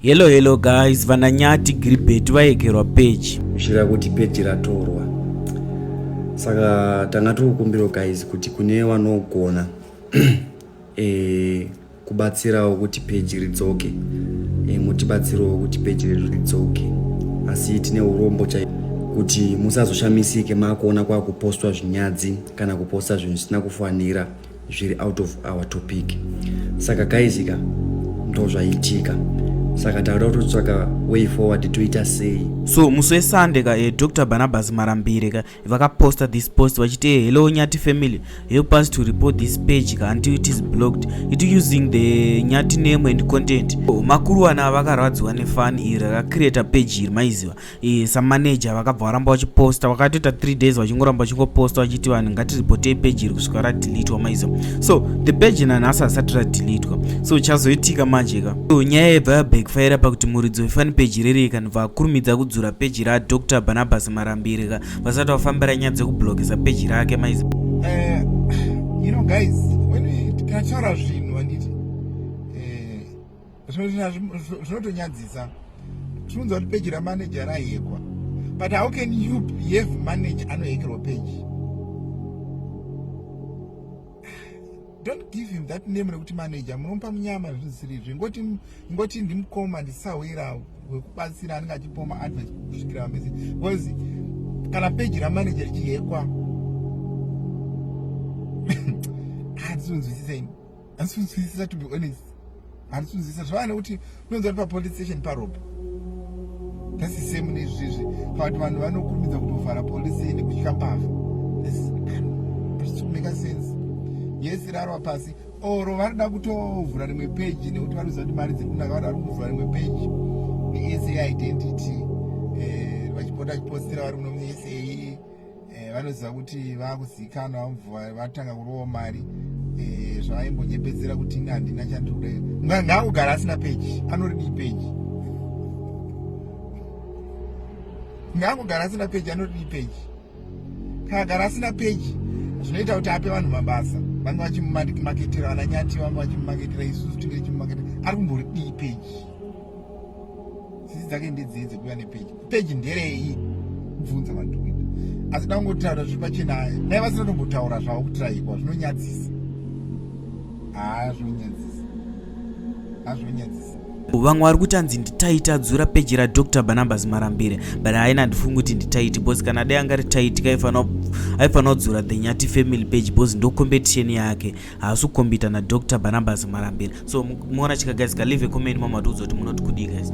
Hello hello guys, vana Nyati Gilbert vayekerwa page. Kushira kuti page ratorwa. Saka tanga tiri kukumbira guys kuti kune vanogona eh kubatsirawo kuti page ridzoke. Eh mutibatsirawo kuti page ridzoke. Asi tine urombo chai kuti musazoshamisike makuona kwakupostwa zvinyadzi kana kuposta zvinhu zvisina kufanira. zviri out of our topic saka kaizika ndozvaitika saka tauda kutotsvaka way forward toita sei so musi wesande ka eh, dr barnabas marambire ka vakaposta this post vachiti eh, hello nyati family help us to report this page ka until it is blocked it using the nyati name and content oh, makuruwana vakarwadziwa nefani iri rakacreata page iri maiziva Eh, samaneja vakabva varamba vachiposta vakatoita 3 days vachingoramba vachingoposta vachiti vanhu ngatiripotei peji iri kusvika radelitwa maiza so the peji nanhasi asati radelitwa so chazoitika manje ka so nyaya yaibva yabackfire pakuti muridzi wefani peji riri ikanibva akurumidza kudzura peji radr barnabas marambiri ka vasati vafambira nyaya dzekublokesa peji rake maiza eh, you know guys when we, tikatora zvinhu zvinotonyadzisa tinonzwa kuti peji ramanager rahekwa but how can you behave manager anohekerwa peji don't give him that name rekuti manager munomupa munyama zvinosirizvi ngoti ngoti ndimukoma ndisahwira wekubatsira anenge achipoma advice kusvikira vamese because kana peji ramanager richihekwa hatizonzwisisa ini handisi kunzwisisa to be honest handisi kunzwisisa zvava nekuti unonzwa kuti papolice station paropa that's the same nezvizvi pakuti vanhu vanokurumidza kutovhara police nekutya mbavha make sense yes rarwa pasi oro vanoda kutovhura rimwe peji nekuti vanoziva kuti mari dziri kunaka vanoda kuvhura rimwe peji nesa identity eh, vachipota vachipostira vari muno musa eh, vanoziva kuti vakuzikanwa vamubva vatanga kurowa mari eh, zvavaimbonyepedzera kuti ini handina chandikuda ngaakugara asina peji anoridii peji ngaakugara asina peji anoridii peji kaagara asina peji zvinoita kuti ape vanhu mabasa vange vachimumaketera vananyati vange vachimumaketera isusu tinge tichimumaketera ari kumboridii peji sisi dzake ndedzei dzekuva nepeji peji nderei bvunza vandukuita asi dangotaura zviri pachena dai vasina tombotaura zvavo kutiraikwa zvinonyadzisa haa zvinonyadzisa haa zvinonyadzisa vamwe vari kuti anzi nditaiti adzura peji radr banambas marambire but haina handifungi kuti nditaiti bcause kana dai angari taiti aifanira kudzura the nyati family page bcause ndocompetition yake haasi kukombita na Dr Barnabas Marambira so muona chika guys ka leave a comment mama tiudza kuti munoti kudii guys